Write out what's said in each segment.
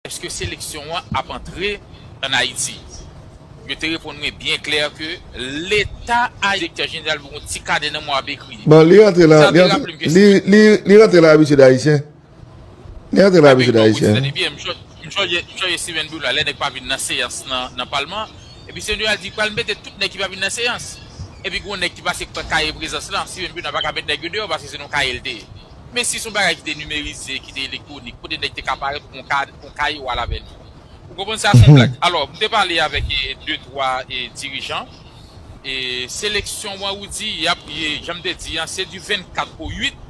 Eske seleksyon an ap antre an Ayiti? Yo te reponn mwen byen klè ke Leta Ayisyen. Direktè Jeneral mwen gon ti kanè nan mwen ap ekri. Bon, li rantre la, li rantre la. Li rantre la abitid Ayisyen. Li rantre la abitid Ayisyen. M sonje Steven Bruno a, lè nèg pa vin nan seyans nan palman, epi Steven Bruno a di pral mete tout nèg ki pa vin nan seyans. Epi gon nèg ki pase pran kaye prezans lan, Steven Bruno a pa ka met nèg yo deyò paske se nan yon kaye li te ye. Men si se yon bagay ki te nimerize, ki te elektwonik, kote nèg te ka parèt ou pran kaye ou al avè li. Ou konprann sa se yon blag. Alò, m te pale avèk de twa dirijan e seleksyon an ou di y ap, jan m te di an, se di 24 o 8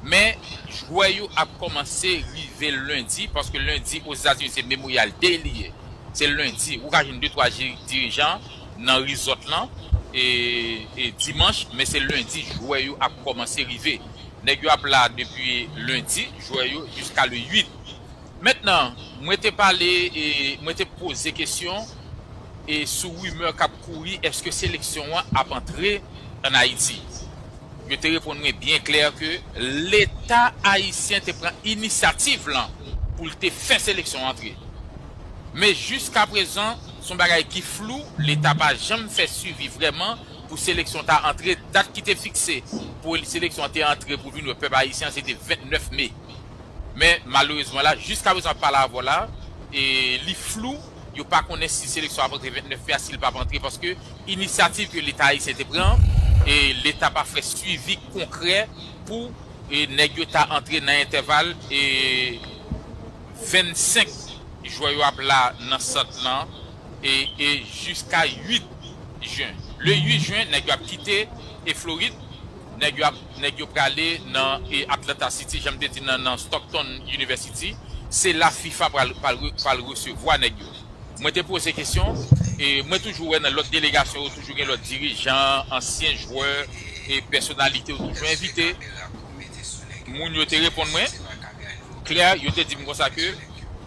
men jwè yo ap kòmanse rive lendi paske lendi Ozetazini se Memorial Day li ye. Se lendi. Ou ka jwenn de twa dirijan nan resort lan e dimanch men se lendi jwè yo ap kòmanse rive. Nèg yo ap la depi lundi jwè yo jiska le 8. Mentnan mwen te pale e mwen te poze kesyon e sou rumeur kap kouri eske seleksyon an ap antre an Ayiti. Yo te reponn mwen byen klè ke leta ayisyen te pran inisyativ lan pou l te fè seleksyon antre. Men jiska prezan son bagay ki flou leta pa janm fè swivi vrèman pou seleksyon ta antre, dat ki te fikse pou seleksyon an te antre pou vin wè pèp ayisyen an se te 29 me. Men malerezman la jiska prezan ap pale avè w la li flou, yo pa konnen si seleksyon ap antre 29 me a si li pap antre paske inisyativ ke leta ayisyen te pran an leta pa fè swivi konkrè pou nèg yo ta antre nan entèval 25 jwè yo ap la nan sant lan. e jiska 8 jen le 8 jen nèg yo ap kite e florid nèg yo ap nèg yo prale nan e atlanta city janm te di nan nan stockton university se la fifa pral pral resevwa nèg yo mwen te poze kesyon e mwen toujou wè nan lòt delegasyon yo toujou gen lòt dirijan ansyen jwè e pèsonalite yo toujou envite moun yo te reponn mwen klè yo te dim konsa ke.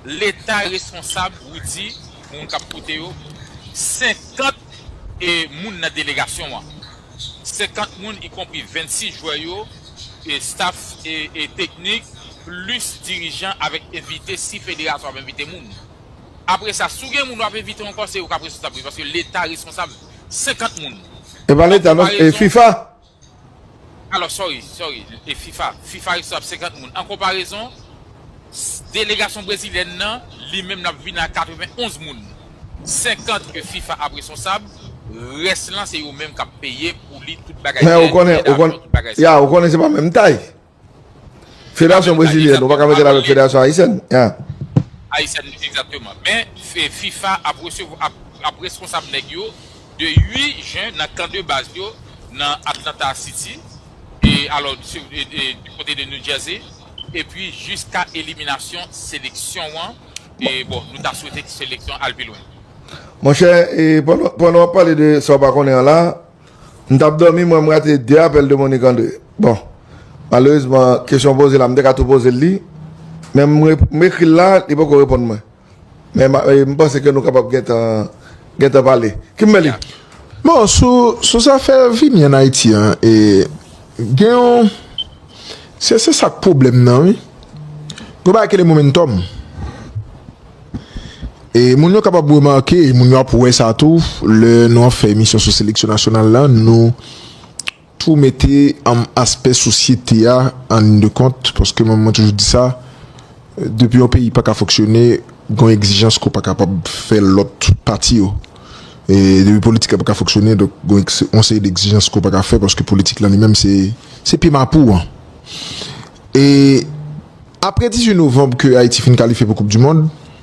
leta responsab Rudy pou moun kap koute yo 50 e moun nan delegasyon an 50 moun y konpri 26 jwè yo e staff e teknik plis dirijan avèk envite si federasyon ap envite moun apre sa si w gen moun wap envite ankò se yo kap responsab wi paske leta responsab 50 moun Epa leta non e fifa. Alò sorry sorry e fifa fifa rekswa ap 50 moun an konparezon delegasyon brezilyèn nan li menm lap vin a 91 moun 50 e fifa ap resonsab rès lan se yo menm kap peye pou li tout bagay Hè ou konnen ou konnen ya ou konnen se pa menm tay Federasyon brezilyèn nou pa ka mete l avèk federasyon ayisyèn? Ayisyèn li egzakteman. Men fifa ap resevwa ap responsab nèg yo de 8 jen nan kan de baz yo nan Atlanta City e alò du kote de New Jersey epi jiska eliminasyon seleksyon an e bon nou ta swete seleksyon al pi lwen. Monchè pandan w ap pale de sa w pa konnen an la M tap domi mwen m rate 2 apèl de Monique André bon malerezman kesyon w poze la m te ka tou pozel li men m ekril la li poko reponn mwen men m panse ke nou kapab gentan gentan pale Kimberly. Bon sou zafè vini an Ayiti an e gen yon se se sak pwoblèm nan wi yon bagay ki rele momentum. E moun yo kapab remake, e moun yo ap wè sa tou, lè nou ap fè emisyon sou seleksyon nasyonal la, nou tou mete anm aspè sosyete a an lin de kont, paske mwen mwen toujou di sa, depi yon peyi pa ka fonksyone, gon egzijans ke w pa kapab fè lòt pati yo. E depi politik la pa ka fonksyone, donk gon yon seri d'egzijans ke w pa ka fè, paske politik lan li menm se, se pye mapou an. E apre 18 novanb ke Ayiti fin kalifye pou koup di mond,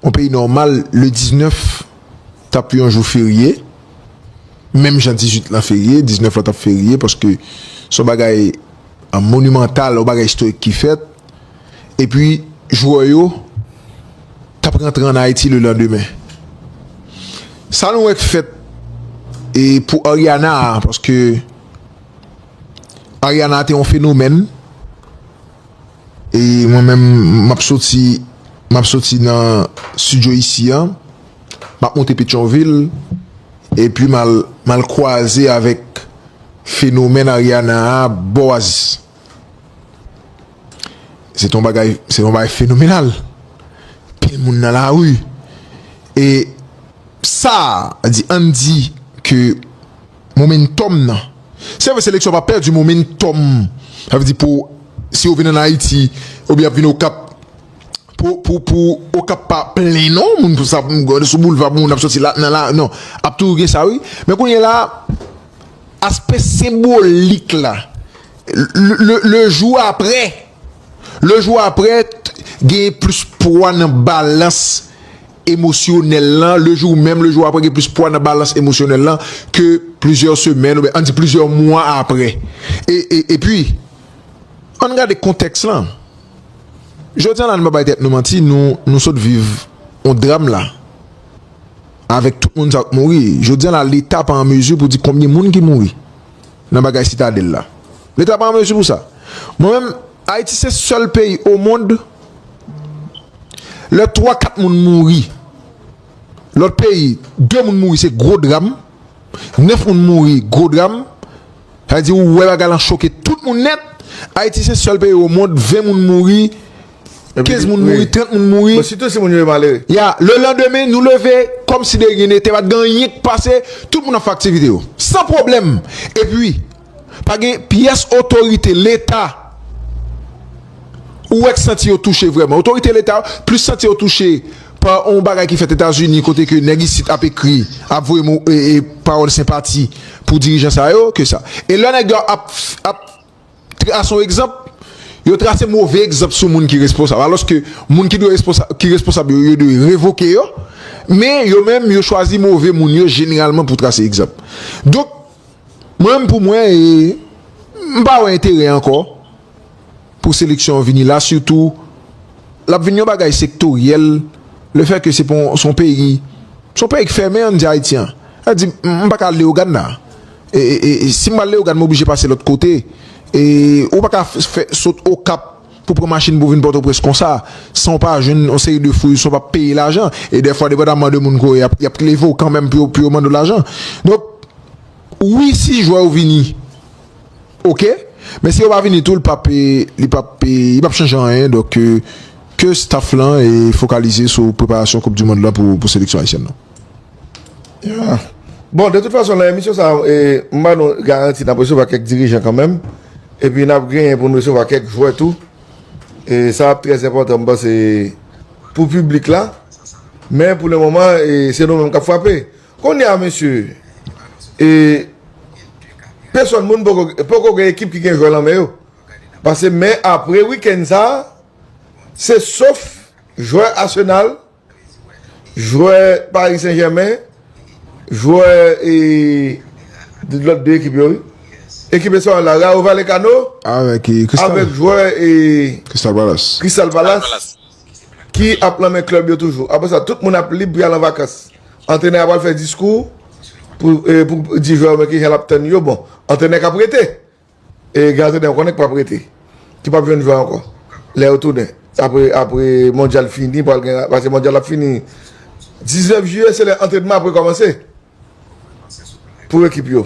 On peyi nòmal le 19 tap yon jou ferye, menm jan 18 lan ferye, 19 lan tap ferye paske son bagay monimantal, yon bagay istorik ki fèt, epi jwè yo tap rantre an Ayiti le landemen. Sa nou wè k fèt pou Ariana a, paske Ariana te yon fenomèn, E mwen menm m ap soti m ap soti nan studio isi an m ap monte petyonvil epi m al m al kwaze avèk fenomèn Ariana a bò oasis se te yon bagay se te yon bagay fenomenal pil moun nan lari e sa a di ann di ke Momentum nan. Se vre seleksyon pa pèdi momentum. Sa vle di pou si yo vin an Ayiti oubyen y ap vin Okap pou pou pou Okap pa plen non moun pou sa pou sou boulva pou moun ap soti la nan la non ap toujou gen sa wi. Men kounye la a aspè senbolik la le le jou aprè le jou aprè genyen plis pwa nan balans emosyonèl lan, le jou menm, le jou aprè gen plis pwa nan balans emosyonèl lan ke plizyè semèn oubyen an di plizyè mwa aprè. E, e, epi, ann gade kontèks lan. Jodi a la, nou pa bay tèt nou manti, nou, nou sot viv yon dram la, avèk tout moun sa yo k mouri. Jodi a la, Leta pa an mezi pou di konbyen moun ki mouri. nan bagay sitadèl la. Leta pa an mezi pou sa. Mwen menm, Ayiti se sèl peyi omond, lè 3, 4 moun mouri, lòt peyi 2 moun mouri se gwo dram, 9 moun mouri gwo dram, sa vle di ou wè bagay lan choke tout moun nèt, Ayiti se sèl peyi omond 20 moun mouri, 15 moun mouri, 30 moun mouri. Bon, sitou si moun yo e malere. Ya, le landemen, nou leve, kòm si de ryen nete, pa t gen anyen k pase, tout moun ap fè aktivite yo. San pwoblèm. Epi, pa gen pyès otorite Leta ou wè k santi yo touche vrèman. Otorite Leta yo plis santi yo touche pa yon bagay ki fèt Etazini kote ke nèg isit ap ekri, ap voye mo, e, e pawòl senpati pou dirijan sa yo ke sa. E lè nèg yo ap, ap. Trase yon egzanp, yo trase move egzanp sou moun ki responsab alòske moun ki dwe ki responsab yo yo dwe revoke yo men yo menm yo chwazi move moun yo jeneralman pou trase egzanp donk mwen menm pou mwen e m pa wè enterè ankò pou seleksyon an vini la sitou l ap vin yon bagay sektoryèl le fè ke se pou son peyi son peyi k fèmen an n di Ayiti an an di m pa ka al Leyogàn nan. Si m al Leyogàn m oblije pase lòt kote. Ou pa ka fè sot Okap pou pran machin pou vin Pòtoprens konsa san w pa jwenn yon seri de fouysons pa peye lajan. E dèfwa depandaman de moun ke w ye y ap leve w kanmenm pou yo mande w lajan. Donk wi si jwè yo vini ok men si yo pa vini tou li p ap li p ap li p ap chanje anyen donk ke staff lan fokalize sou preparasyon koup dimond lan pou seleksyon ayisyèn lan. Yeah. Bon, de tout fason nan emisyon sa a, m ba nou garanti n ap resevwa kèk dirijan kanmenm, epi n ap genyen pou n resevwa kèk jwè tou. E sa ap trè enpòtan m panse pou piblik la. Men pou le moman, se nou menm k ap frape. Kounye a mesye, e pesòn moun poko poko gen ekip ki gen jwè nan men yo. Pase men apre wikenn sa a, se sof jwè Arsenal Jwè Paris Saint Germain, jwè e lòt 2 ekip yo wi. Ekip Espanyòl la, Rayo Vallecano avèk jwè e Crystal Palace ki ap nan men klèb yo toujou. Aprè sa tout moun ap lib pou y al an vakans. Antrenè a pral fè diskou pou di jwè yo men kijan l ap tann yo. Bon, antrenè k ap rete, E Gazede ou konnen k pap rete, ki pap jwenn jwè ankò lè yo tounen apre mondyal fini pral gen pase mondyal la ap fini 19 jiyè se lè antrenman ap rekòmanse pou ekip yo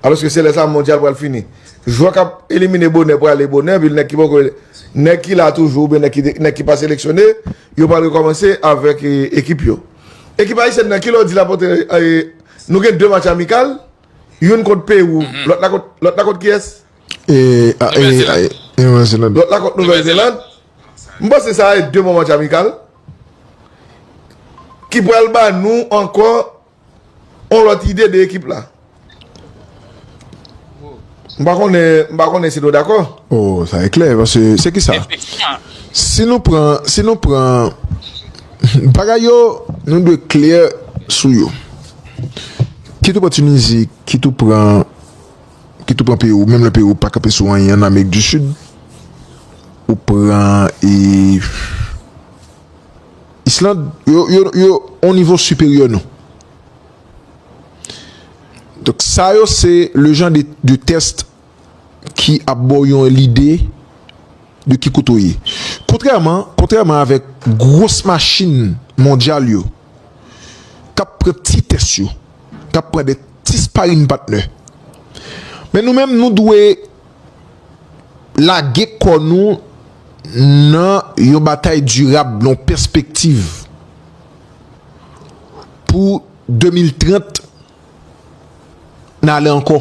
alòske se lè sa mondyal pral fini jwè k ap elimine bonè prale bonè epi nèg ki poko nèg ki la toujou oubyen nèg ki pa seleksyone yo pral rekòmanse avèk ekip yo. Ekip ayisyèn nan ki lè w di l ap antre nou gen 2 match amikal. Youn kont Pewou, lòt la kont, lòt la kont kiyès? Nouvèl Zeland. Nouvèl Zeland. Lòt la kont Nouvèl Zeland. M panse sa e 2 bon match amikal ki pral ba nou ankò on lòt ide de ekip la. M pa konnen, m pa konnen si nou dakò. O, sa e klè, paske se ki sa? Si nou pran, si nou pran bagay yo, nou dwe klè sou yo. Kit ou pran Tunizi, kit ou pran, kit ou pran Pewou, menm lè Pewou pa kanpe sou anyen an Amerik di Sid, ou pran e Island, yo, yo, yo on nivo siperyè nou. Donk sa yo se le jan de test ki ap baw yon lide de ki kote ou ye. Kontrèman, kontrèman avèk gwos machin mondyal yo k ap pran ti tès yo, k ap pran de ti sparinpatnè. Men nou menm nou dwe lage kò nou nan yon batay dirab, nan yon pèspektiv. Pou 2030 n ale ankò.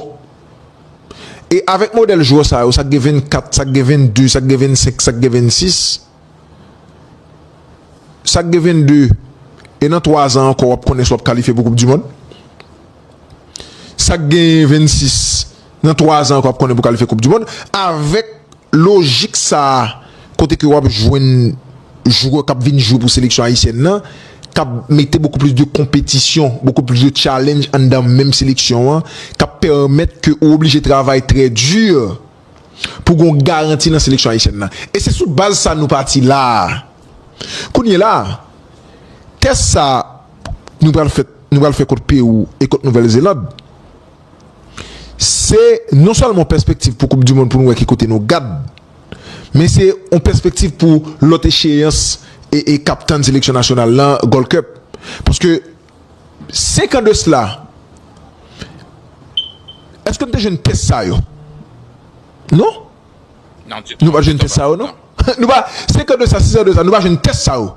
E avèk modèl jwè sa yo, sa k gen 24, sa k gen 22, sa k gen 25, sa k gen 26, sa k gen 22 e nan 3 zan ankò w ap konnen si w ap kalifye pou koup di mond. Sa k gen 26 nan 3 zan ankò w ap konnen pou w kalifye koup di mond avèk. Lojik sa a kote ke wap jwenn jwè kap vin jwe pou seleksyon ayisyèn nan kap mete bokou plis de konpetisyon, bokou plis de challenge anndan menm seleksyon an kap pèmèt ke ou oblije travay trè di pou gen yon garanti nan seleksyon ayisyèn nan. E se sou baz sa nou pati la a. Kounyela a, tès sa nou pral fè nou pral fè kont Pewou e kont Nouvèl Zeland. Se non sèlman yon pèspektiv pou koup dimond pou nou wè ki kote nou gad men se yon pèspektiv pou lòt echeyans k ap tann seleksyon nasyonal la Gold Cup paske 5 an de sla èske nou te jwenn pyès sa yo? Non nou pa t jwenn pyès sa yo non 5 an de sa 6 an de sa nou pa jwenn tès sa yo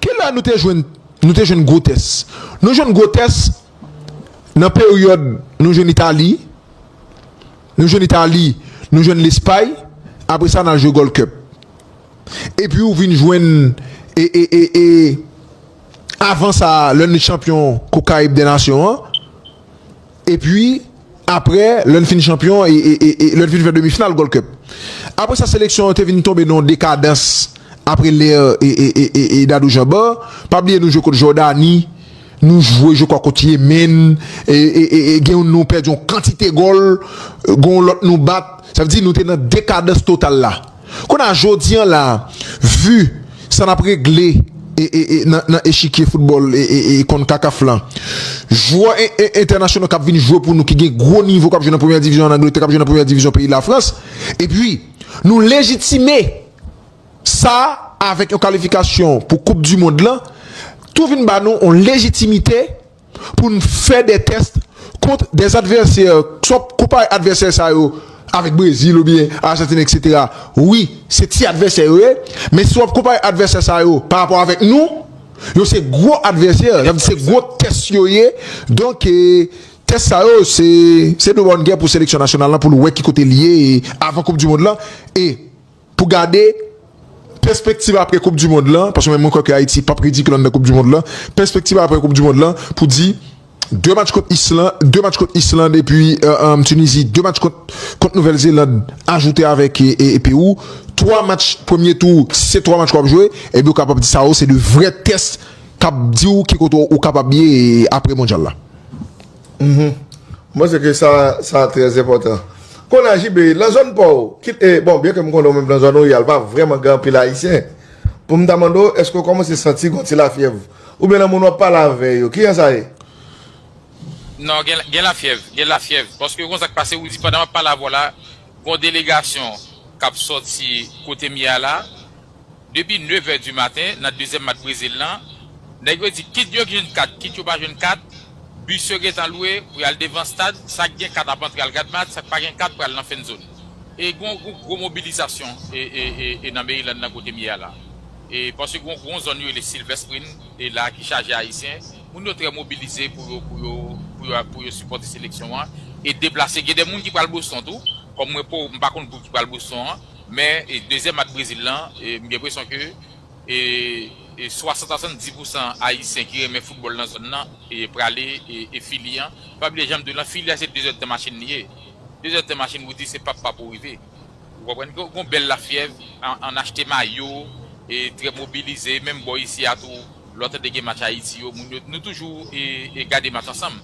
kilè nou te jwenn gwo tès? Nou jwenn gwo tès Nan peryòd nou jwenn Itali, nou jwenn Itali, nou jwenn Lespay, apre sa n al jwe Gold Cup. Epi ou vin jwenn e e e e avan sa lè n chanpyon koup karib dè nasyon an epi Aprè, lè n fin chanpyon e lè n fin fè demi final Gold Cup. Aprè sa seleksyon an te vin tonbe nan yon dekadans aprè lè e Dadou Janba. Pa bliye nou jwe kont Jòdani, nou jwe je kwa kont Yemen e gen yon nou pèdi yon kantite gòl, gen yon lòt nou bat. Sa vle di nou te nan dekadans total la. Kounye a, jodi an la, vu sa n ap regle nan echikye foutbòl Concacaf la, jwè entènasyonal k ap vin jwe pou nou ki gen gwo nivo k ap jwe nan premyè divizyon ann Angletè, k ap jwe nan premyè divizyon peyi Lafrans, epi nou lejitime sa avèk yon kalifikasyon pou koupdimond la, tou vin ba nou yon lejitimite. pou n fè de test kont des adversaires swa konpare advèsè sa yo avèk Brezil oubyen Argentine etc wi se ti advèsè yo ye men si wap konpare advèsè sa yo pa rapò avèk nou yo se gwo advèsè sa vle di se gwo test yo ye donk test sa yo se se de bon gè pou seleksyon nasyonal la pou l wè ki kote l ye avan koup du mond lan e Pou gade pèspektiv apre koup dimond lan, paske mwen kwè ke Ayiti pap ridikil anndan koup dimond lan, pèspektiv apre koup dimond lan pou di 2 match kont Island, 2 match kont Island epi Tunizi, 2 match kont kont Nouvèl Zeland ajoute avèk Pewou, 3 match premye tou, si se 3 match wap jwe, epi ou kapab di sa yo se 2 vrè tès kap diw ki kote ou kapab ye apre mondyal la. Mwen panse ke sa sa trè enpòtan. Kounye a JB, lan zòn pa w, kit e, bon, byen ke m konnen ou menm lan zòn ou ye a l pa vrèman gen anpil Ayisyen, pou m ta mande w, èske ou kòmanse santi gon ti lafyèv? Oubyen lan moun w ap pale avè yo, kijan sa ye? Non, gen, gen lafyèv, gen lafyèv. Paske kon sa k pase, ou di pandan m ap pale avè w la, gon delegasyon k ap sòti kote m ye a la. Depi nevè di maten nan dezyèm match Brezil lan, nèg yo di kit yo jwenn kat kit yo pa jwenn kat, bis yo gentan lwe pou y al devan stad, sa k gen kat ap antre al gad match, sa k pa gen kat pral nan fennzon. E gen yon gwo mobilizasyon nan Maryland lan kote m ye a la e paske gen yon zòn yo rele Silver Spring e la ki chaje Ayisyen, moun yo trè mobilize pou yo pou yo pou yo pou yo sipòte seleksyon an e deplase. Gen de moun ki pral Boston tou, kòm mwen po m pa konn gwoup ki pral Boston an. Men dezyèm ak Brezil lan m gen presyon ke 60 a 70 pousan ayisyen ki renmen foutbòl nan zòn nan prale e Fili an pa bliye janm di w lan Fili a se 2 zèdtan machin li ye 2 zèdtan machin pou di se pap pap ou rive ou konprann gon bèl lafyèv an achte mayo trè mobilize menm bò isi a tou. Lò tande gen match Ayiti yo moun yo nou toujou e gade match ansanm.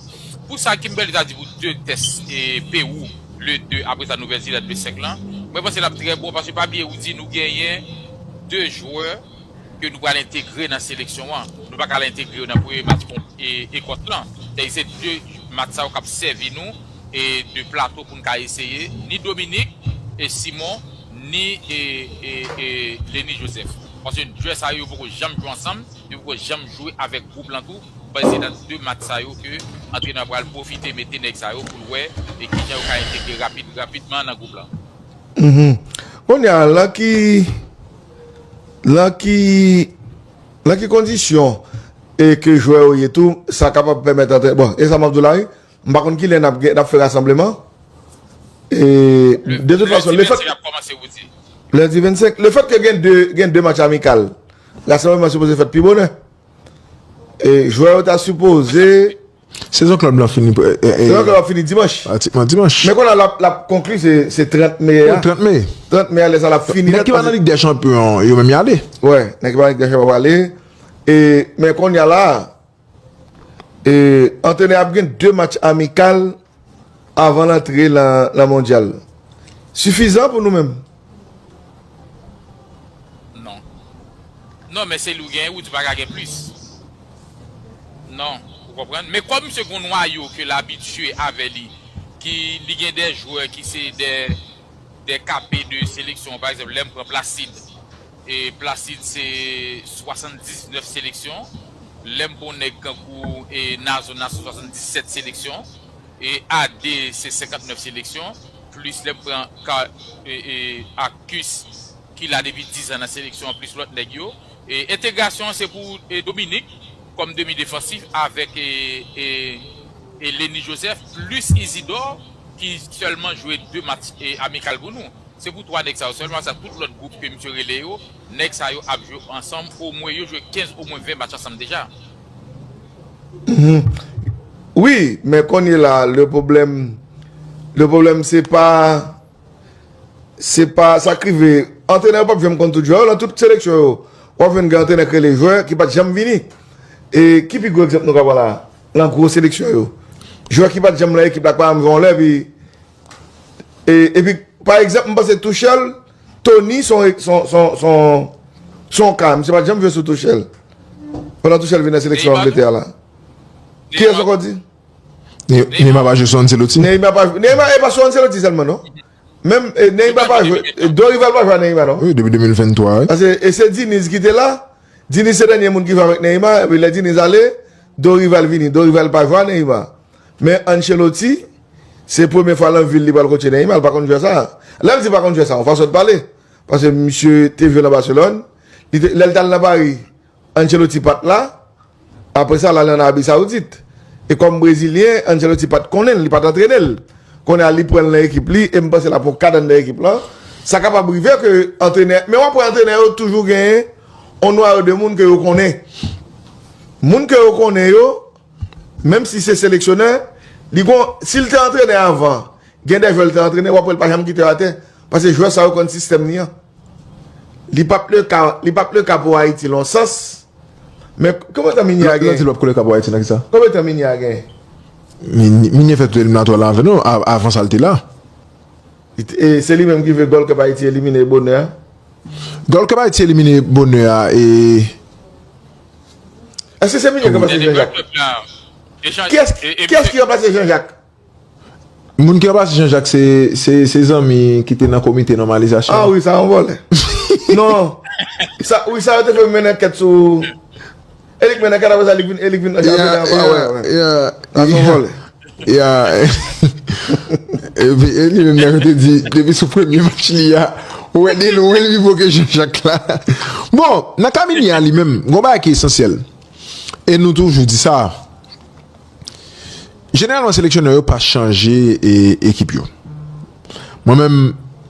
Pou sa Kimberly ta di pou 2 tès e Pewou le 2 apre sa Nouvèl Zelad le 5 lan mwen panse lap trè bon paske pa bliye ou di nou genyen 2 jwè ke nou pral entegre nan seleksyon an nou paka al entegre yo nan premye match kont Ekòs lan sèdi se 2 match sa yo kap sèvi nou e de plato poun ka eseye ni Dominik e Simon ni Lenny Joseph paske 2 sa yo poko janm jwe ansanm yo poko janm jwe avèk gwoup lan tou paske se nan 2 match sa yo ke antrenè an pral pwofite mete nèg sa yo poul wè kijan yo ka entegre rapid rapidman nan gwoup lan. Kounye a lan ki lan ki lan ki kondisyon ke jwè yo ye tou sa kapab pèmèt antrenè bon e sa map di w la wi. M pa konn kilè nap gen nap fè rasanbleman e de tout fason le fèt Lundi 25 le fèt ke gen 2 gen 2 match amikal rasanbleman sipoze fèt pi bonè e jwè yo ta sipoze Sezon klèb lan fini Sezon klèb lan fini dimanch Pratikman dimanch Men kounye a lap konkli se 30 me a 30 me 30 me a lè sa lap fini Nèg ki pa nan lig dè chanpyon yo menm yale Wè nèg ki pa nan lig dè chanpyon yo pwale e men kounye a la. Antrenè ap gen 2 match amikal avan l antre nan mondyal. Sifizan pou nou menm? Non. Non men se li w genyen wi, ou pa ka gen plis. Non, ou konprann? Men kòm misye gen yon nwayo ke l abitye avè li, ki li gen de jwè ki se de KP de seleksyon, pa egzanp lè m pran Placide. Placide se 79 seleksyon, lè m pwan nèg kankou Nazon nan se 77 seleksyon, AD se 59 seleksyon, plis lè m pran Arcus ki la depi 10 an nan seleksyon an plis lòt nèg yo. Entegrasyon an se pou Dominik kòm demi defansif avèk Lenny Joseph plis Isidor ki sèlman jwe 2 match amikal pou nou. Se pou 3 nèg sa yo sèlman sa tout lòt gwoup ke misye rele yo nèg sa yo ap jwe ansanm omwen yo jwe 15 omwen 20 match ansanm deja. Wi men kounye la le pwoblèm le pwoblèm se pa se pa sa k rive antrenè yo p ap janm konn tout jwè yo nan tout seleksyon yo w ap jwenn gen antrenè k rele jwè ki pa t janm vini e ki pi gwo egzanp nou ka pran la nan gwo seleksyon yo jwè ki pa t janm nan ekip la k pa janm jwe yon lè epi E pi pa egzanp m panse Tuchel, Tony son son ka. Misye pa t janm jwe sou Tuchel. Pandan Tuchel vin nan seleksyon Angletè a la. Kiyès ankò w di? Neymar pa jwe sou Ancelotti? Neymar pa jwe. Neymar e pa sou Ancelotti sèlman non. Menm Neymar pa jwe. Dorival pa jwe a Neymar non. Wi depi 2023 wi. Pase e se Diniz ki te la. Diniz se dènye moun ki jwe avèk Neymar. E pi lè Diniz ale, Dorival vini. Dorival pa jwe a Neymar. Men Ancelotti, se premye fwa lan vi l li pral kotche Neymar, l pa konn jwè sa. Lè m di pa konn jwè sa, yon fason de pale. Paske misye te jwe lan Barcelone, li te, lè l t al lan Paris, Ancelotti pa t la, apre sa l ale an Arabie Saoudite. E kòm brezilyen, Ancelotti pa t konnen l, li pa t antrene l. Kounye a li pran l lan ekip li e m panse l ap yon kad anndan ekip lan. Sa kapab rive ke antrenè, men wap wè antrenè yo toujou genyen yon nwayo de moun ke yo konnen. Moun ke yo konnen yo, Menm si se seleksyonè, li gon, si l te antrenè avan, gen dè jwè l te antrenè w ap wè l pa janm kite yo atè, pase jwè sa yo konn sistèm li an. Li pa p le ka, li pa p le ka pou Ayiti lon sans, men konbyen tan Migne a genyen? Lè w di li pa p ko le ka pou Ayiti nan kisa? Konbyen tan Migne a genyen? Migne fè tout eliminatwa la avè nou, avan sa l te la. E se li menm ki ve Gold Cup Ayiti elimine bonè a? Gold Cup Ayiti elimine bonè a e. Eske se Michel ki ranplase Jean Jacques? Kiyès ki ranplase Jean Jacques? Moun ki ranplase Jean Jacques se zanmi ki te nan komite nòmalizasyon. A wi sa yon vòlè. Non. Wi sa yo te fè mennen ankèt sou. E li k mennen ankèt apre sa e li k vin anjan. Sa son vòlè. Ya Epi Eli menm nan yo te di depi sou premye match li a ou wè delwen li pi bon ke Jean Jacques la Bon nan ka Minie a li menm gon bagay ki esansyèl e nou toujou di sa Jeneralman seleksyonè yo pa chanje ekip yo Mwen menm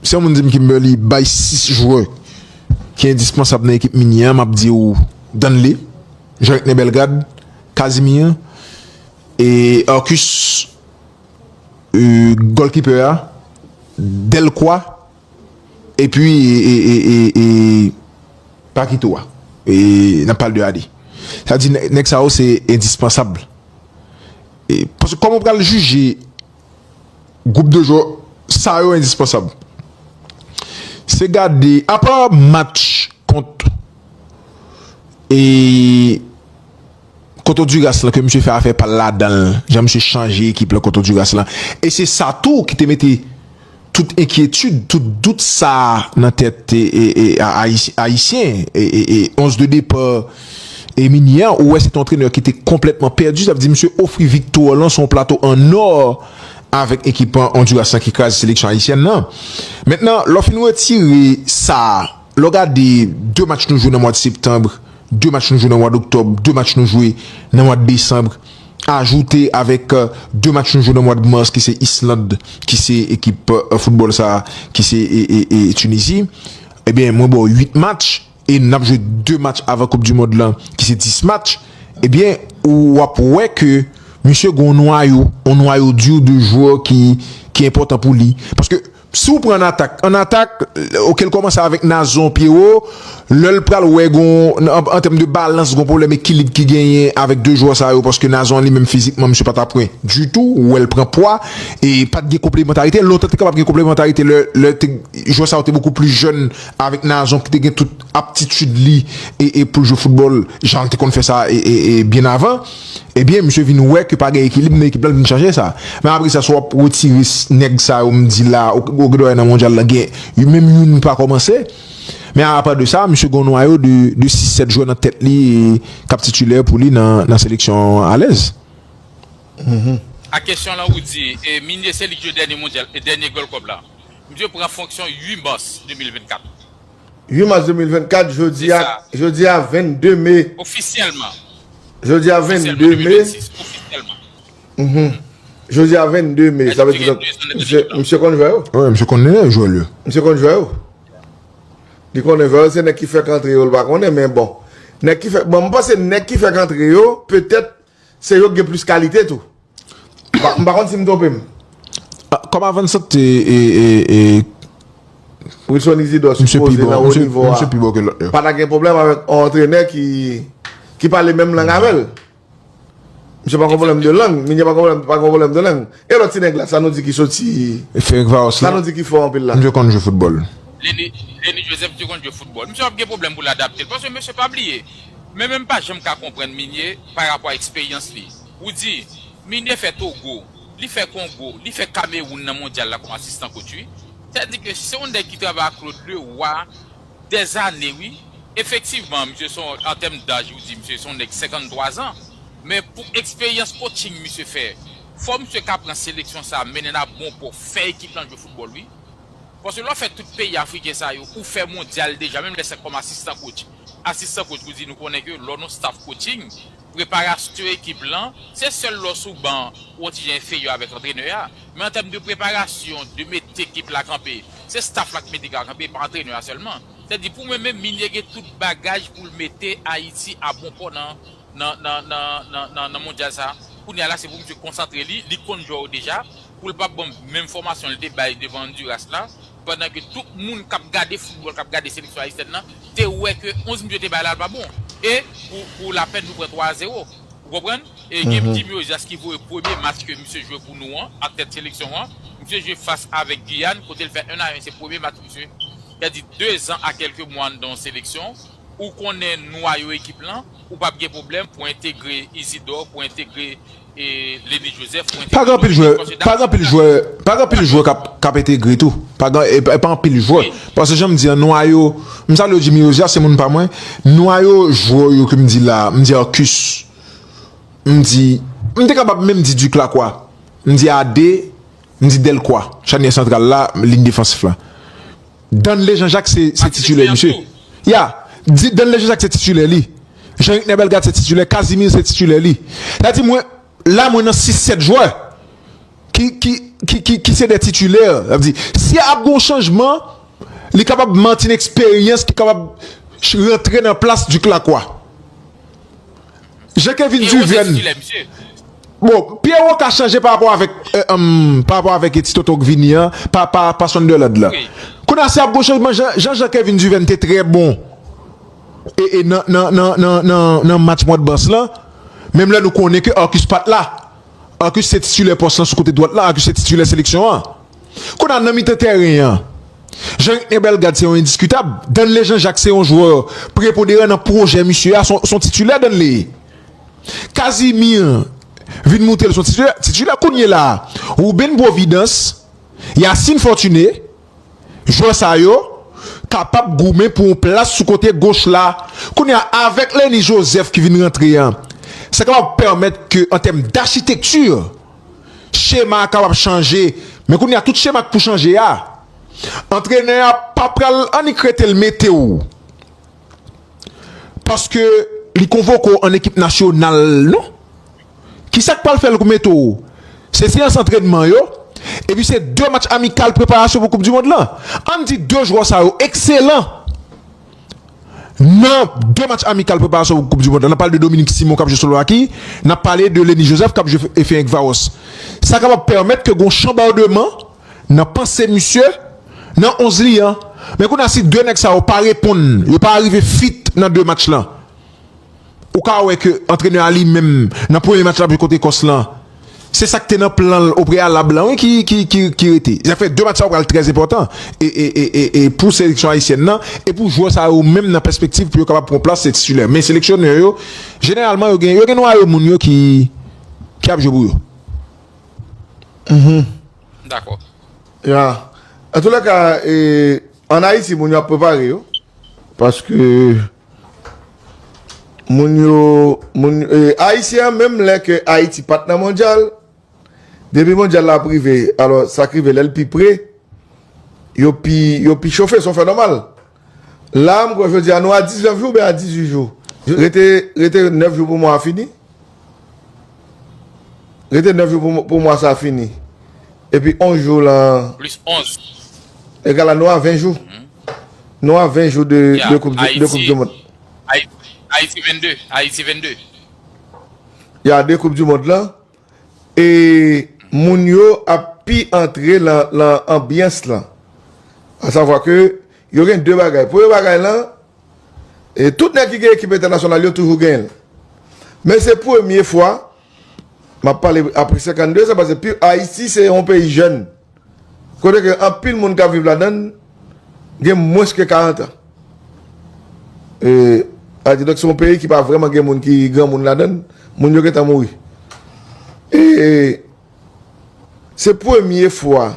si yon moun di m Kimberly bay 6 jwè ki endispansab nan ekip Minie a m ap di w Danley Jean Recné Bellegarde Casimir E Arcus goalkeeper a Delcroix epi e Paquito a e nap pale de AD. Sa di nèg sa yo se endispansab. E paske kòman ou pral jije gwoup de jwè sa yo endispansab? Se gade apa match kont e Kont Onduras lan ke misye fè afè pal ladanl, jan misye chanje ekip lan kont Onduras lan e se sa tou ki te mete tout enkyetid, tout dout sa nan tèt ayisyen e 11 de depa Minie an ou wè se te yon antrenè ki te konplètman pèdi sa vle di misye ofri viktwa lan sou yon plato an nò avèk ekip Onduras lan ki kraze seleksyon ayisyèn lan. Mentnan lè w fin retire sa. Lè w gade 2 match nou jwe nan mwad septanb, 2 match nou jwe nan mwad oktòb, 2 match nou jwe nan mwad desanb, ajoute avèk 2 match nou jwe nan mwad mas ki se Island ki se ekip foutbòl sa ki se Tunizi, ebyen mwen ba w 8 match e n ap jwe 2 match avan koup di mond lan ki se 10 match, ebyen ou ap wè ke misye gen yon nwayo, yon nwayo di de jwè ki enpòtan pou li. Paske. Si w pran an atak, an atak, ok l kòmanse avèk Nazon Pyewo, lè l pral wè gon an tèm de balans gon pwoblèm ekilib ki genyen avèk 2 jwè sa yo paske Nazon an li menm fizikman misye pa ta pwen ditou ou wè l pran pwa e pa t gen konplemantarite lontan te kapab gen konplemantarite lè lè te jwè sa yo te bokou plis jèn avèk Nazon ki te gen tout aptitid li e e pou l jwe foutbòl jan l te konn fè sa e e byen avan. Ebyen misye vin wè ke pa gen ekilib nan ekip la, l vin chanje sa. Men apre sa si w ap retire nèg sa yo m di la a, ou gen dwa wè nan mondyal la gen menm youn ki pa kòmanse. Men apa de sa misye gen yon nwayo de sis, sèt jwè nan tèt li k ap titilè pou li nan seleksyon an alèz. A kesyon lan ou di Migné se li ki jwe dènye mondyal, dènye gold cup la. Misye pran fonksyon 8 mas 2024. 8 mas 2024, jodi a, jodi a 22 me. Ofisyèlman. Jodi a 22 me. Ofisyèlman. Jodi a 22 me. Sa vle di lòt. Mse konn jwè yo? Wè, mse konn nenè jwè yo. Mse konn jwè yo? Li konnen jwè yo, se nèk ki fèk antre yo, li pa konnen men bon. Nèk ki fèk, bon, mwen panse nèk ki fèk antre yo, petèt, Se yo k gen plis kalite tou. M pa konn si m twonpe m. Kòm avansante e. Wilson Isidor sipoze nan wo nivo a. Pa ta gen pwoblèm avèk yon antrenè ki pale menm lang avè l. Misye pa gen pwoblèm de lang. Migne pa gen pwoblèm de lang. E lòt ti nèg la, sa nou di ki soti. Ferenc Varos la? Sa nou di ki fò anpil la? Misye konn jwe foutbòl. Lenny Lenny Joseph te konn jwe foutbòl. Misye ap gen pwoblèm pou l adapte l paske mesye pa bliye. Men men m pa janm ka konprann Migné pa rapò a eksperyans li. Ou di, Migné fè Togo, li fè Kongo, li fè Kamewoun nan Mondyal la kòm asistan kotch wi. Sa di ke se yon nèg ki travay ak Claude Leroy dèzane wi. Efektivman, misye se yon, an tèm daj ou di misye se yon nèg 53 zan. Men pou eksperyans kotching misye fè Fò misye ka pran seleksyon sa mennen nap bon pou fè ekip lan jwe foutbòl wi. Paske lè w fè tout peyi afriken sa yo ou fè mondyal deja menm lè se kòm asistan coach. Asistan coach pou di nou konnen ke lè w nan staff coaching, preparastyon ekip lan se sèl lè w sou ban ou yon ti jan enfeyè avèk antrenè a. Men an tèm de preparasyon, de mete ekip la kanpe, se staff la ki mete ekip la kanpe e pa antrenè a sèlman. Sètadi pou mwen menm Migne gen tout bagaj pou l mete Ayiti a bon pò nan. nan mondyal sa kounya la se pou misye konsantre li, li konn jwè yo deja poul pa bon menm fòmasyon li te bay devan Honduras la pandan ke tout moun kap gade foutbòl kap gade seleksyon ayisyèn nan te wè ke 11 misye te bay la pa bon e pou lapèn nou pran 3 a 0 ou konprann e gen Jimmy Ojaz ki voye premye match ke misye jwe pou nou an ak tèt seleksyon an misye jwe fas avèk Guyane kote l fè 1 a 1 se premye match misye pèdi 2 zan a kèlke mwa anndan yon seleksyon. Ou konnen nwayo ekip lan, ou pap gen pwoblèm pou entegre Isidor, pou entegre Lenny Joseph, pou entegre Josué Smith paske Dapchi se yon jwè Pa gen anpil jwè k ap entegre tou E pa anpil jwè Paske jan m di an nwayo M salye w Jimmy Rosia se moun pa mwen Nwayo jwè yo ke m di la a M di Arcus M di M te kapab menm di Duc Lacroix M di Ade M di Delcroix Chanyè santral la Liy defansif la Danlé Jean Jacques se se titulè misye ya di Danlé Jean Jacques se titulè li Jean Ricner Bellegarde se titulè Casimir se titulè li sa di mwen la mwen nan 6 7 jwè ki ki ki ki ki se de titulè sa vle di si ap gon chanjman li kapab Martin eksperyans ki kapab rantre nan plas Duc Lacroix. Je Kevin Duverne Bon Pierrot ka chanje pa rapò avèk Pa rapò avèk ti tonton k vini an Pa Sunderland la Kounye a si ap gon chanjman jan je Kevin Duverne te trè bon E nan match mwa bas la Menm lè nou konnen ke Arcus pat la Arcus se titulè pòs lan sou kote dwat la Arcus se titulè seleksyon an Kounye a, nan mitan tèren an, Jean-Rickner Bellegarde se yon endiskitab. Danley Jean-Jacques se yon jwè preponderan nan pwojè misye a, s on titilè Danley ye. Casimir vin moute l s on titilè. Kounyela a, Ruben Providence, Yacine Fortuné, jwè sa yo kapab goumen pou yon plas sou kote goch la. Kounye a, avèk Lenny Joseph ki vin rantre an, sa kapab pèmèt ke an tèm dachitekti, chema a kapab chanje men kounye a tout chema k pou chanje a antrenè a pa pral annik rete l mete w paske li konvoke w an ekip nasyonal non ki sa k pral fè l k mete w se seyans antrenman yo epi se de match amikal preparasyon pou koup dimond lan ann di de jwè sa yo ekselan. Nan 2 match amikal preparasyon pou koup di mond la, nan pale de Dominique Simon kap jwe Slovaki, nan pale de Lenny Joseph kap jwe Ferencvaros. Sa kapab pèmèt ke gon chanbardeman nan panse misye nan 11 li an. Men kounye a si 2 nèg sa yo pa reponn, yo pa arive fit nan 2 match lan. Ou ka wè ke antrenè a li menm nan premye match la ap jwe kont Ekòs lan, se sa ki te nan plan l opreyalab lan wi ki rete. Sa fè 2 match sa yo pral trè enpòtan e pou seleksyon ayisyèn nan e pou jwè sa yo menm nan pèspektiv pou yo kapab pran plas titilè. Men seleksyonè yo jeneralman yo gen yo gen nwayo moun yo ki ap jwe pou yo. Mhum. M dakò. Ya. Antoulèka, ann Ayiti moun yo ap prepare yo paske. Moun yo, moun yo, e, Ayisyen an menm lè ke Ayiti pa t nan mondyal, depi mondyal la ap rive, alò sa k rive lè l pi pre, yo pi, yo pi chofe, se yon fè nòmal. La a m kwè jodi a nou a 19 jou oubyen a 18 jou? Rete, rete 9 jou pou mwa a fini. Rete 9 jou pou mwa sa fini. Epi 11 jou lan. Plis 11. Egal a nou a 20 jou. Nou a 20 jou de koup di mond. Ayiti 22. Ayiti 22. Ya de koup di mond lan. E moun yo ap pi antre lan anbyans lan. Asavwa ke yo gen 2 bagay. Premye bagay lan. E tout nèg ki gen ekip entènasyonal yo toujou genyen l. Men se premye fwa, m ap pale apre 52 zan paske pi Ayiti se yon peyi jèn. Kote ke anpil moun k ap viv ladan l gen mwens ke 40 an. E sa vle di donk se yon peyi ki pa vrèman gen moun ki granmoun ladan l. Moun yo gentan mouri. E se premye fwa.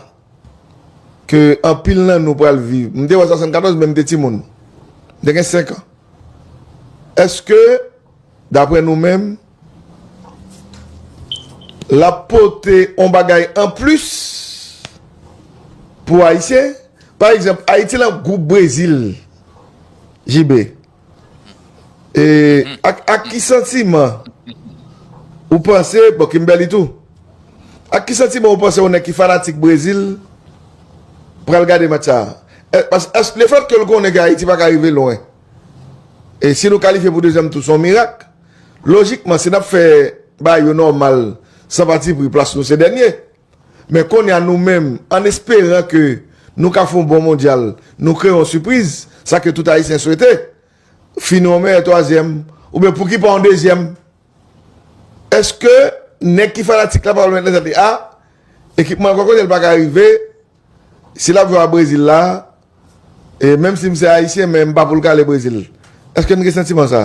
ke anpil nan nou pral viv. M te wè 74 men m te timoun. M te gen 5 an. Eske dapre nou menm l ap pote yon bagay an plis pou Ayisyen? Pa egzanp, Ayiti lan gwoup Brezil, JB. E ak ki santiman ou panse, bon Kimberly tou, ak ki santiman ou panse yon nèg ki fanatik Brezil pral gade match sa? Paske le fèt ke l konnen ke Ayiti pa ka rive lwen, e si nou kalifye pou dezyèm tou se yon mirak, lojikman si n ap fè bagay yo nòmal san patipri plas nou se dènye. Men kounye a nou menm, an esperan ke nou ka fè yon bon Mondyal, nou kreye yon sipriz, sa ke tout Ayisyen swete, fini an meyè twazyèm, oubyen pouki pa an dezyèm? Eske nèg ki fanatik la pa pral mèt nan tèt li a, ekipman an gò kote l pa ka rive, si l ap jwe a Brezil la, E menm si m se Ayisyen men m pa poul kale Brezil. Eske m gen santiman sa?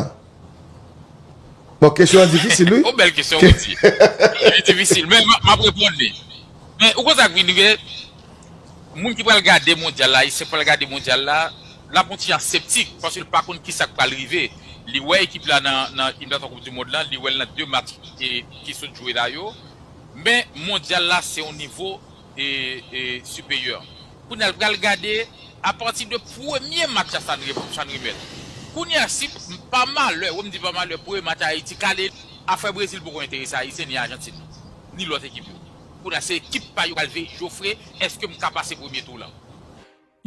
Bon kesyon an difisil wi. Yon bèl kesyon wi di. Li difisil men m ap reponn li. Men ou konn sa k vin rive, moun ki pral gade mondyal la, Ayisyen k pral gade mondyal la, l ap yon ti jan septik paske l pa konn kisa k pral rive. Li wè ekip la nan eliminatwa koup dimond lan, li wè l nan 2 match ki sot jwe la yo. Men mondyal la se yon nivo. Superior. Kounya l pral gade apati de premye match a sa n remèt. Kounya si pa malè, wè m di pa malè, premye match a Ayiti kale, afè Brezil poko enterese Ayisyen ni Ajantin, ni lòt ekip yo. Kounya se ekip pa yo k pral veye jofre èske m ka pase premye tou w lan.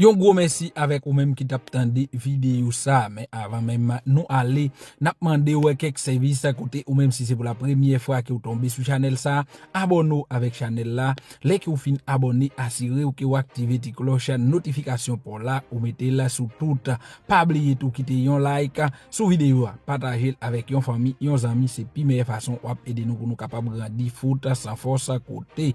Yon gwo mèsi avèk ou menm ki tap tande videyo sa, men avan menm nou ale nap mandew kèk sèvis kote ou menm si se pou la premyè fwa ke ou tonbe sou chanèl sa, abòne w avèk chanèl la, lè ke ou fin abòne asirew ke ou aktive ti klòch notifikasyon paw la ou metel sou tout, pa bliye tou kite yon like sou videyo a, patajel avèk yon fanmi, yon zanmi se pi meyè fason wap ede nou pou nou kapab grandi fout san fòs kote.